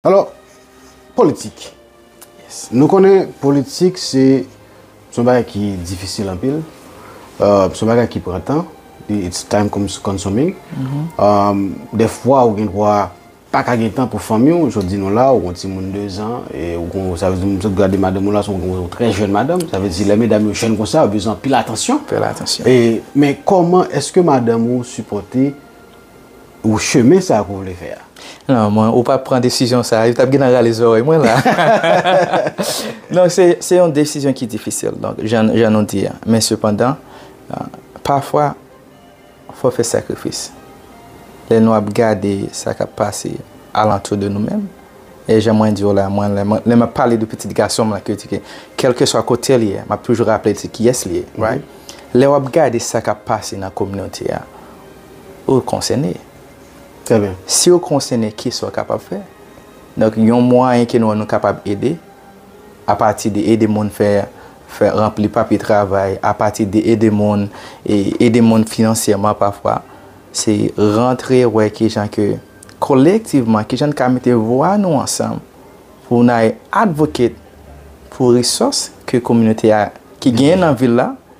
Alò, politik. Nou konnen politik se son bagay ki difisil anpil, son bagay ki pran tan, it's time consuming. Dèfwa ou gen dwa pa ka gen tan pou fanmi ou, jan w di nou la, ou gen timoun dezan, e ou gen, sa vle di m sot gade madanm ou la, se yon trè jèn madanm, sa vle di lè medam yo jèn konsa, yo bezwen anpil atansyon. Anpil atansyon. Men kòman èske madanm ou sipòte? chemen sa pou w vle fè a. Non mwen ou pa pran desizyon sa yo tap gentan rale zòrèy mwen la non se yon desizyon ki difisil donk jan nou di a men sepandan pafwa fò fè sakrifis lè nou ap gade sa kap pase alantou de nou menm e jan mwen di w la mwen lè map pale de pitit gason m la ke di ke kelkeswa kote l ye map toujou raple l se kiyès li ye lè wap gade sa kap pase nan kominote a. Ou konsène. Trè byen. Si ou konsène, ki sa ou kapab fè? Donk, yon mwayen ke nou wè nou kapab ede, apati de ede moun fè, fè ranpli papye travay, apati de ede moun, e ede moun finansyèman pafwa, se rantre wè ki jan ke kolektivman, ki jan n ka mete vwa nou ansanm pou n al advocate pou resource ke kominote a, ki genyen nan vil la,